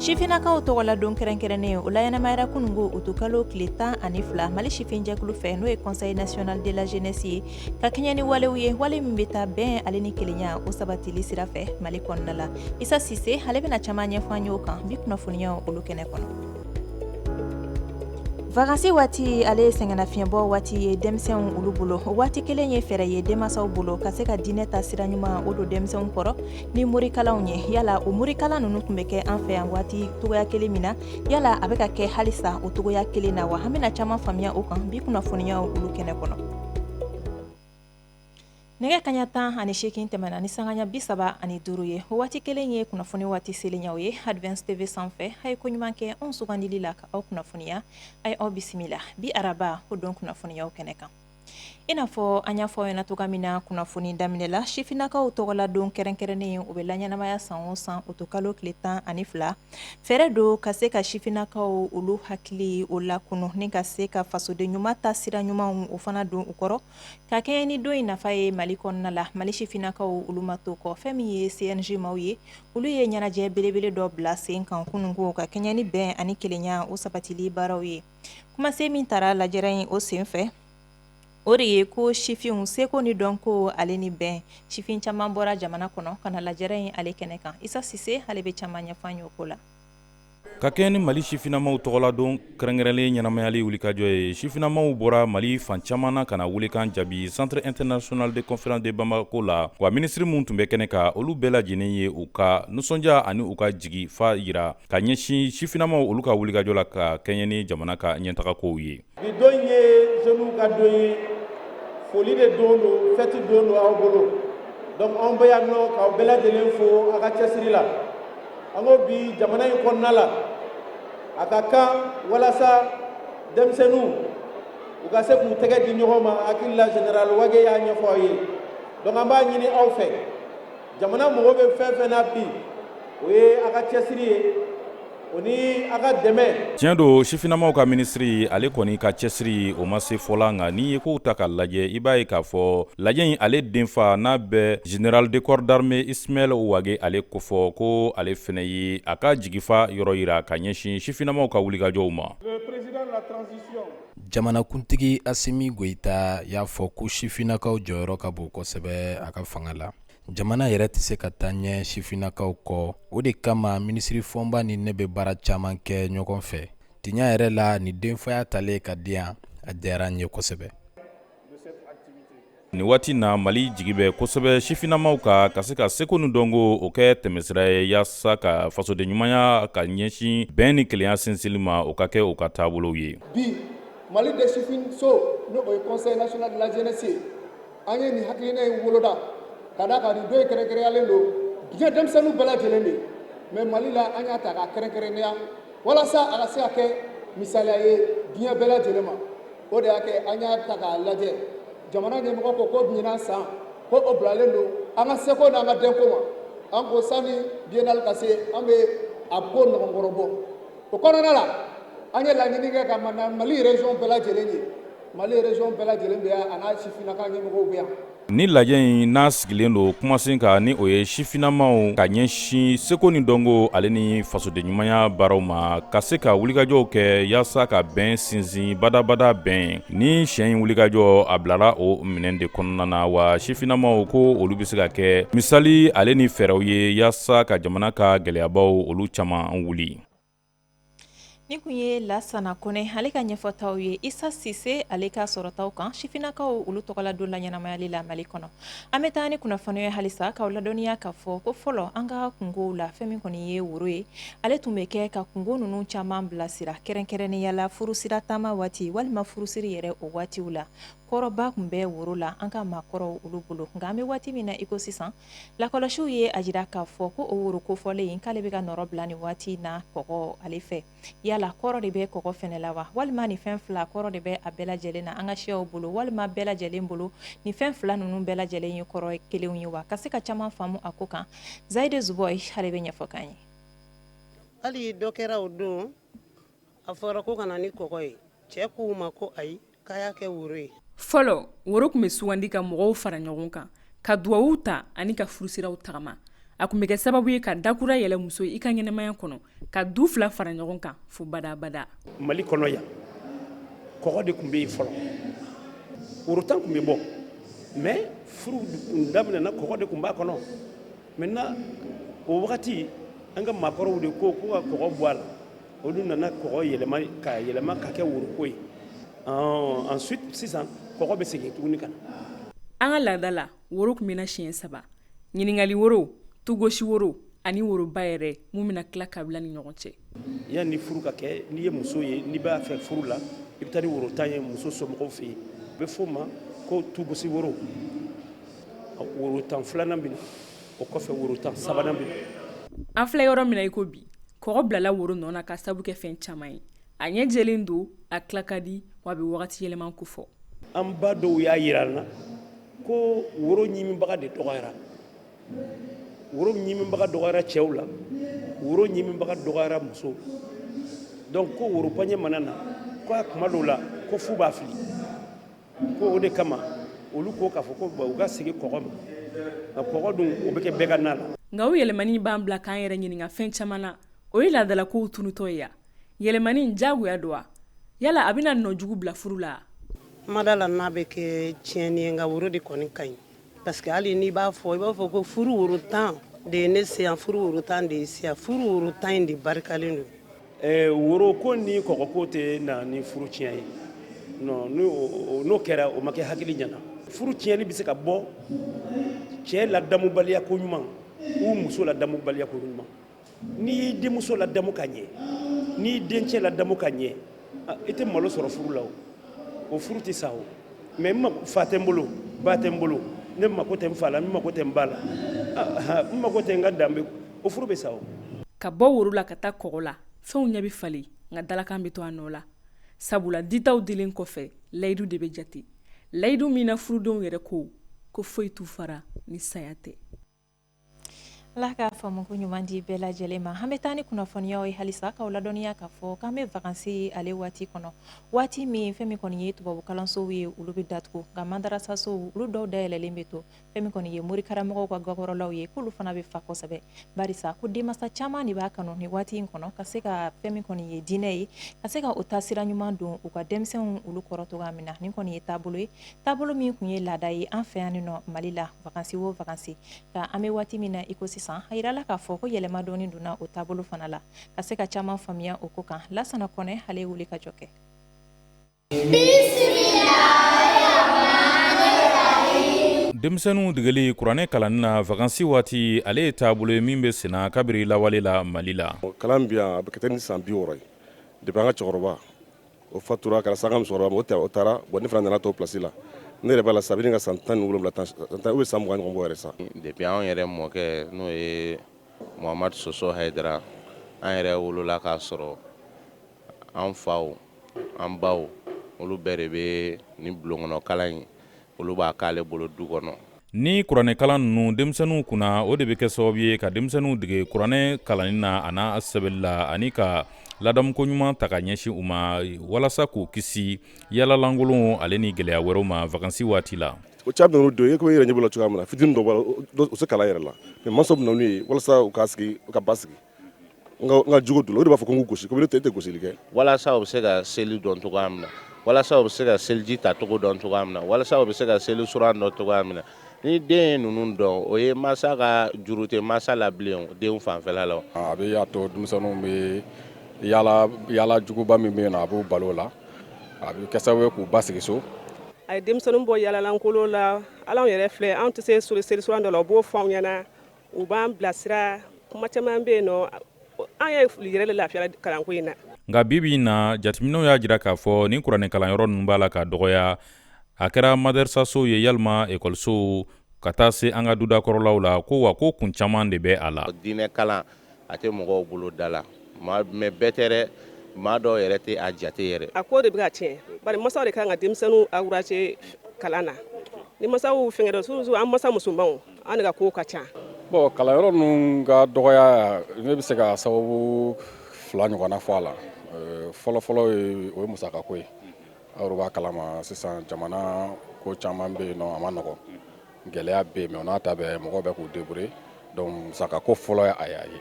Sifinakaw tɔgɔ la don kɛrɛnkɛrɛnnen o laɲɛnamayara kunungo utu kalo tile tan ani fila mali sifin jɛkulu fɛ n'o ye conseil national de la jeunesse ye ka kɛɲɛ ni walew ye wale min bɛ taa bɛn ale ni kelenya o sabatili sira fɛ mali kɔnɔna la Isa Sise ale bɛna caman ɲɛfɔ an ye o kan bi kunnafoniyaw olu kɛnɛ kɔnɔ vacances waati ale ye sɛgɛnnafiɲɛbɔ waati ye denmisɛnw olu bolo o waati kelen ye fɛɛrɛ ye denmansaw bolo ka se ka diinɛ ta sira ɲuman o don denmisɛnw kɔrɔ ni morikalanw ye yala o morikalan ninnu tun bɛ kɛ an fɛ yan waati togoya kelen min na yala a bɛ ka kɛ halisa o togoya kelen na wa an bɛna caman faamuya o kan bi kunnafoniyaw olu kɛnɛ kɔnɔ nɛgɛ kaɲa tan ani seegin tɛmɛna ni sanganya bi saba ani duuru ye o waati kelen ye kunnafoni waati selenyaw ye Advance TV sanfɛ a ye koɲuman kɛ anw sugandili la ka aw kunnafoniya a ye aw bisimila bi araba o don kunnafoniyaw kɛnɛ kan I n'a fɔ an y'a fɔ aw ɲɛna cogoya min na kunnafoni daminɛ la sifinakaw tɔgɔladon kɛrɛnkɛrɛnnen o bɛ laɲɛnamaya san o san utu kalo tile tan ani fila fɛɛrɛ don ka se ka sifinakaw olu hakili o lakunun ni ka se ka fasoden ɲuman ta sira ɲumanw o fana don u kɔrɔ ka kɛɲɛ ni don in nafa ye mali kɔnɔna la mali sifinakaw olu ma to kɔ fɛn min ye CNJ maw ye olu ye ɲɛnajɛ belebele dɔ bila sen kan kunungo ka kɛɲɛ ni bɛn ani kelenya o sabatili baaraw ye kumasen min tara lajɛrɛ in o senfɛ o de ye ko sifinw seko ni dɔnko ale ni bɛn sifin caman bɔra jamana kɔnɔ ka na lajɛrɛ in ale kɛnɛ kan Isa Sise ale bɛ caman ɲɛfɔ an ye o ko la ka kɛɲɛ ni mali sifinamaw tɔgɔladon kɛrɛnkɛrɛnlen ɲɛnamayali wulikajɔ ye sifinamaw bɔra mali fan caman na ka na welekan jaabi centre international de conférence de bamako la wa minisiri minnu tun bɛ kɛnɛ kan olu bɛɛ lajɛlen ye u ka nisɔndiya ani u ka jigifa yira ka ɲɛsin sifinamaw olu ka wulikajɔ la ka kɛɲɛ ni jamana ka ɲɛtagakow ye bi don ye jeunes ka don ye foli de don don fɛti don don aw bolo donc anw bɛ yan nɔ k'aw bɛɛ lajɛlen fo a ka cɛsiri la an ko bi jamana in kɔnɔna la a ka kan walasa denmisɛnninw u ka se k'u tɛgɛ di ɲɔgɔn ma hakili la général Wage y'a ɲɛfɔ aw ye donc an b'a ɲini aw fɛ jamana mago bɛ fɛn fɛn na bi o ye a ka cɛsiri ye o ni a ka dɛmɛ tiɲɛ don sifinamaw ka minisiri ale kɔni ka cɛsiri o ma se fɔla nka n'i ye kow ta ka lajɛ i b'a ye k'a fɔ lajɛ in ale denfa n'a bɛ général de corps d'armée Ismaël Wage ale kofɔ ko ale fɛnɛ ye a ka jigifa yɔrɔ yira ka ɲɛsin sifinamaw ka wulikajɔw ma Jamanakuntigi Asimi Goïta y'a fɔ ko sifinakaw jɔyɔrɔ ka bon kosɛbɛ a ka fanga la jamana yɛrɛ tɛ se ka taa ɲɛ sifinakaw kɔ o de kama minisiri Fɔnba ni ne bɛ baara caman kɛ ɲɔgɔn fɛ tiɲɛ yɛrɛ la ni denfaya talen ka di yan a diyara n ye kosɛbɛ Nin waati na mali jigi bɛ kosɛbɛ sifinamaw ka ka se ka seko ni dɔnko o kɛ tɛmɛsira ye yaasa ka fasoden ɲumanya ka ɲɛsin bɛn ni kelenya sinsinli ma o ka kɛ u ka taabolow ye bi mali de sifin so n'o ye conseil national de la jeunesse an ye nin hakilina in woloda ka da ka nin don kɛrɛnkɛrɛnyalen don diɲɛ denmisɛnnin bɛɛ lajɛlen de ma mali la an y'a ta ka kɛrɛnkɛrɛnya walasa a ka se ka kɛ misaliya ye diɲɛ bɛɛ lajɛlen ma o de y'a kɛ an y'a ta k'a lajɛ jamana ɲɛmɔgɔ ko ko ɲinan san ko o bilalen don an ka seko n'an ka dɔnko ma an ko sani biennale ka se an bɛ a ko ɲɔgɔn kɔrɔbɔ o kɔnɔna la an ye laɲini kɛ ka mali région bɛɛ lajɛlen ye mali région bɛɛ lajɛlen bɛ yan a n'a sifinnaka ɲɛmɔgɔw bɛ yan Ni lajɛ in n'a sigilen don kumasen kan ni o ye sifinamaw ka ɲɛsin seko ni dɔnko ale ni fasoden ɲumanya baaraw ma ka se ka wulikajɔw kɛ yaasa ka bɛn sinsin badabada bɛn ni siɲɛ in wulikajɔ a bilara o minɛn de kɔnɔna na wa sifinamaw ko olu bɛ se ka kɛ misali ale ni fɛɛrɛw ye yaasa ka jamana ka gɛlɛyabaw olu caman wuli Ni tun ye lasana kone ale ka ɲɛfɔtaw ye isa sise ale ka sɔrɔtaw kan sifinnakaw olu tɔgɔladon laɲɛnamayali la mali kɔnɔ an bɛ taa ni kunnafoni ye halisa k'aw ladɔnniya k'a fɔ ko fɔlɔ an ka kunkow la fɛn min kɔni ye woro ye ale tun bɛ kɛ ka kunko ninnu caman bilasira kɛrɛnkɛrɛnnenya la furusira taama waati walima furusiri yɛrɛ o waati la kɔrɔba tun bɛ woro la an ka maakɔrɔw olu bolo nka an bɛ waati min na iko sisan lakɔlɔsiw ye a jira k'a fɔ ko o woro kofɔlen in k'ale bɛ ka nɔrɔ bila ni waati in na kɔgɔ ale fɛ yala kɔrɔ de bɛ kɔgɔ fɛnɛ la wa walima ni fɛn fila kɔrɔ de bɛ a bɛɛ lajɛlen na an ka siyaw bolo walima bɛɛ lajɛlen bolo ni fɛn fila ninnu bɛɛ lajɛlen ye kɔrɔ kelenw ye wa ka se ka caman faamu a ko kan zayide zuboy ale bɛ ɲɛfɔ k'an ye hali dɔ kɛra o don a fɔra ko ka na ni kɔgɔ ye cɛ k'u ma ko ayi fɔlɔ woro tun bɛ sugandi ka mɔgɔw fara ɲɔgɔn kan ka dugawu ta ani ka furusiraw tagama a tun bɛ kɛ sababu ye ka da kura yɛlɛ muso in ka ɲɛnamaya kɔnɔ ka du fila fara ɲɔgɔn kan fo badabada mali kɔnɔ yan kɔgɔ de tun bɛ yen fɔlɔ worotan tun bɛ bɔ mais furu daminɛ na kɔgɔ de tun b'a kɔnɔ maintenant o wagati an ka maakɔrɔw de ko k'u ka kɔgɔ bɔ a la olu nana kɔgɔ yɛlɛma ka yɛlɛma ka kɛ woroko ye ɔɔ ensuite sisan kɔgɔ bɛ segin tuguni ka na an ka laada la woro tun bɛ na siɲɛ saba ɲininkali woro tugosi woro ani woroba yɛrɛ mun bɛna tila kabila ni ɲɔgɔn cɛ yanni furu ka kɛ n'i ye muso ye n'i b'a fɛ furu la i bɛ taa ni worotan ye muso somɔgɔw fɛ yen u bɛ f'o ma ko tugosi woro worotan filanan bɛ na o kɔfɛ woro tan sabanan bɛ an filɛ yɔrɔ min na i ko bi kɔgɔ bilala woro nɔ na k'a sabu kɛ fɛn caman ye a ɲɛ jɛlen don a tila ka di wa a bɛ wagati yɛlɛma kofɔ an ba dɔw y'a yira an na ko woro ɲiminbaga de dɔgɔyara woro ɲiminbaga dɔgɔyara cɛw la woro ɲiminbaga dɔgɔyara musow donc ko woro paɲɛ mana na ko a kuma dɔw la ko f'u b'a fili ko o de kama olu ko k'a fɔ ko u ka segin kɔgɔ ma nka kɔgɔ dun o bɛ kɛ bɛɛ ka na la nka o yɛlɛmani b'an bila k'an yɛrɛ ɲininka fɛn caman na o ye laadalakow tunutɔ ye ya yɛlɛmani diyagoya don wa yala a bɛna nɔ jugu bila furu la n ma da a la n'a bɛ kɛ tiɲɛni ye nka woro de kɔni ka ɲi Parce que hali n'i b'a fɔ i b'a fɔ ko furu woro 10 de ye ne se yan furu woro 10 de y'i se yan furu woro 10 in de barikalen don Ɛɛ woro ko ni kɔgɔ ko tɛ na ni furu tiɲɛ ye non n'o kɛra o ma kɛ hakili ɲɛna furu tiɲɛni bɛ se ka bɔ cɛ ladamubaliya koɲuman ou muso ladamubaliya koɲuman n'i y'i denmuso ladamu ka ɲɛ n'i y'i dencɛ ladamu ka ɲɛ ah, i tɛ malo sɔrɔ furu la o o furu tɛ sa o mais fa tɛ n bolo ba tɛ n bolo ne mako tɛ n fa la n mako tɛ n ba la ah, n mako tɛ n ka danbe o furu bɛ sa o ka bɔ woro la ka taa kɔgɔ la fɛnw ɲɛ bɛ falen nka dalakan bɛ to a nɔ la sabula ditaw dilen kɔfɛ layidu de bɛ jate layidu min na furudenw yɛrɛ ko ko foyi t'u fara ni saya tɛ Ala k'a faamu ko ɲuman di bɛɛ lajɛlen ma an bɛ taa ni kunnafoniyaw ye halisa k'aw ladɔnniya k'a fɔ k'an bɛ vacances ale waati kɔnɔ waati min fɛn min kɔni ye tubabukalansow ye olu bɛ datugu nka madarasasow olu dɔw dayɛlɛlen bɛ to fɛn min kɔni ye morikaramɔgɔw ka gakɔrɔlaw ye k'olu fana bɛ fa kosɛbɛ barisa ko denmansa caman de b'a kanu nin waati in kɔnɔ ka se ka fɛn min kɔni ye diinɛ ye ka se ka o taasira ɲuman don u ka denmisɛnw olu kɔrɔ cogoya min na nin kɔni ye taabolo ye taabolo min kun ye laada ye an fɛ yan nɔ mali la vacances o vacances nka an bɛ waati min na iko sisan a yirala k'a fɔ ko yɛlɛma dɔɔnin donna o taabolo fana la ka se ka caman faamuya o ko kan lasana kɔnɛ ale ye wuli ka jɔ kɛ denmisɛnninw degeli kuranɛ kalanni na vacances waati ale ye taabolo ye min bɛ senna kabiri lawale la mali la kalan bi a bɛ kɛ ni san bi wɔɔrɔ ye depuis an ka cɛkɔrɔba o fatura kɛra sa an ka musokɔrɔba o taara bon ne fana nana t'o place la ne yɛrɛ b'a la sa a bɛ ɲini ka san tan ni wolonwula ou bien san mugan ɲɔgɔn bɔ yɛrɛ sa depuis an yɛrɛ mɔkɛ n'o ye muhamadu soso hayidara an yɛrɛ wolola k'a sɔrɔ an faw an baw olu bɛɛ de bɛ ni bulonkɔnɔ kalan ye olu b'a k'ale bolo du kɔnɔ ni kuranɛkalan ninnu denmisɛnninw kunna o de bɛ kɛ sababu ye ka denmisɛnninw dege kuranɛ kalanni na a n'a sɛbɛnni la ani ka ladamuko ɲuman ta ka ɲɛsin u ma walasa k'u kisi yaalalankolonw ale ni gɛlɛya wɛrɛw ma vakansi waati la o caman ninnu don i ko i yɛrɛ ɲɛ b'u la cogoya min na fitini dɔ b'a la u se kalan yɛrɛ la mɛ mansaw bɛ na n'u ye walasa u ka sigi u ka basigi nka jugu don o de b'a fɔ ko n k'u gosi ko ne tɛ gosili kɛ walasa u bɛ se ka seli dɔn cogoya min na walasa u bɛ se ka seliji ta cogo dɔn cogoya min na walasa u bɛ se ka seli suran dɔn cogoya min na ni den ye ninnu dɔn o ye mansa ka juru tɛ mansa la bilen den fanfɛla la a bɛ y'a to denmisɛnninw bɛ yaala juguba min bɛ na a b'u bali o la a bɛ kɛ sababu ye k'u basigi so a ye denmisɛnninw bɔ yaalalankolon la ala yɛrɛ filɛ an tɛ se seli suran dɔ la u b'o fɔ anw ɲɛna u b'an bilasira kuma caman bɛ yen nɔ an ye yɛrɛ de lafiya kalanko in na nka bibi in na jateminɛw y'a jira k'a fɔ nin kuranɛ kalanyɔrɔ ninnu b'a la ka dɔgɔya a kɛra madɛrisasow ye yalima ekɔlisow ka taa se an ka dudakɔrɔlaw la ko wa ko kun caman de bɛ a la diinɛ kalan a tɛ mɔgɔw bolo da la mɛ bɛɛ tɛ dɛ maa dɔw yɛrɛ tɛ a jate yɛrɛ a ko de bɛ ka tiɲɛ bari masaw de kan ka denmisɛnninw ankuraje kalan na ni masaw fɛngɛ dɔ surutu an masa musomanw An de ka ko ka ca bɔn kalanyɔrɔ ninnu ka dɔgɔya ne bɛ se ka sababu fila ɲɔgɔnna fɔ a la fɔlɔfɔlɔ o ye musaka ko ye aw b'a kalama sisan jamana ko caman bɛ yen nɔn a ma nɔgɔ gɛlɛya bɛ yen mɛ o n'a ta bɛɛ mɔgɔw bɛ k'u debruye dɔnki musaka ko fɔlɔ ye a y'a ye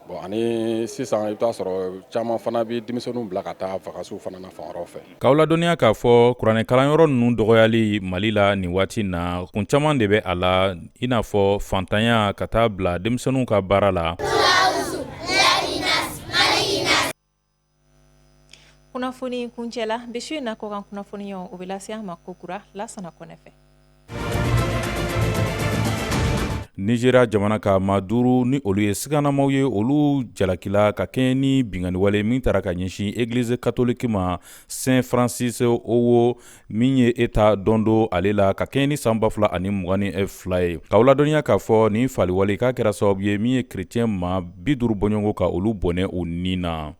Bon ani sisan i bɛ t'a sɔrɔ caman fana bɛ denmisɛnninw bila ka taa vakansiw fana na fan wɛrɛw fɛ. K'aw ladɔnniya k'a fɔ kuranɛ kalanyɔrɔ ninnu dɔgɔyali Mali la nin waati in na, kun caman de bɛ a la, i n'a fɔ faantanya ka taa bila denmisɛnninw ka baara la. Kunnafoni kuncɛla bi su in na kɔkan kunnafoni o bɛ lase an ma kokura Lasana Kɔnɛ fɛ Nizeriya jamana ka maa duuru ni olu ye siganamaw ye olu jalakila ka kɛɲɛ ni binkanniwale min taara ka ɲɛsin egilizi katoliki ma Saint Francis Owo min ye état d'Ondo ale la ka kɛɲɛ ni san ba fila ani mugan ni fila ye k'aw ladɔnniya k'a fɔ nin faaliwale k'a kɛra sababu ye min ye kerecɛn maa bi duuru bɔɲɔgɔnko ka olu bɔnɛ u ni na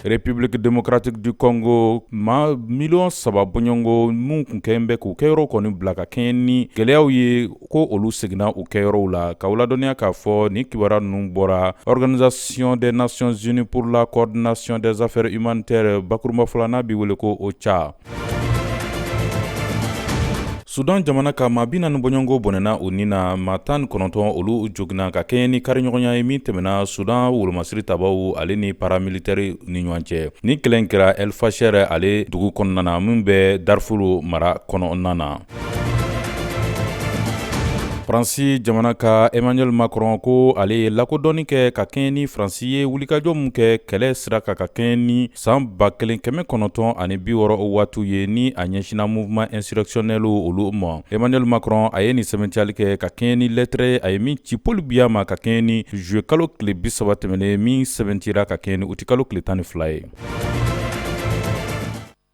République démocratique du Congo maa miliyɔn saba bɔɲɔgɔnko minnu tun kɛlen bɛ k'u kɛyɔrɔ kɔni bila ka kɛɲɛ ni gɛlɛyaw ye ko olu seginna u kɛyɔrɔw la k'aw ladɔnniya k'a fɔ ni kibaruya ninnu bɔra organisation des nations unies pour la coordination des affaires humanitaires bakurunbafɔ la n'a bɛ wele ko ocha sudan jamana ka maa bi naani bɔɲɔgɔnko bɔnɛna u ni na maa tan ni kɔnɔntɔn olu joginna ka kɛɲɛ ni kariɲɔgɔnya ye min tɛmɛna sudan wolomasiri tabaw ale ni paramilitaire ni ɲɔgɔn cɛ ni kɛlɛ in kɛra el fasher ale dugu kɔnɔna na min bɛ darfur mara kɔnɔna na faransi jamana ka emmanuel macron ko ale ye lakodɔnni kɛ ka kɛɲɛ ni faransi ye wulikajɔ min kɛ kɛlɛ sira kan ka kɛɲɛ ni san ba kelen kɛmɛ kɔnɔntɔn ani bi wɔɔrɔ o waatiw ye ni a ɲɛsinna mouvement insurrectionnel olu ma emmanuel macron a ye nin sɛbɛntiyali kɛ ka kɛɲɛ ni lɛtɛrɛ a ye min ci paul biya ma ka kɛɲɛ ni juye kalo tile bi saba tɛmɛnen min sɛbɛntira ka kɛɲɛ ni utikalo tile tan ni fila ye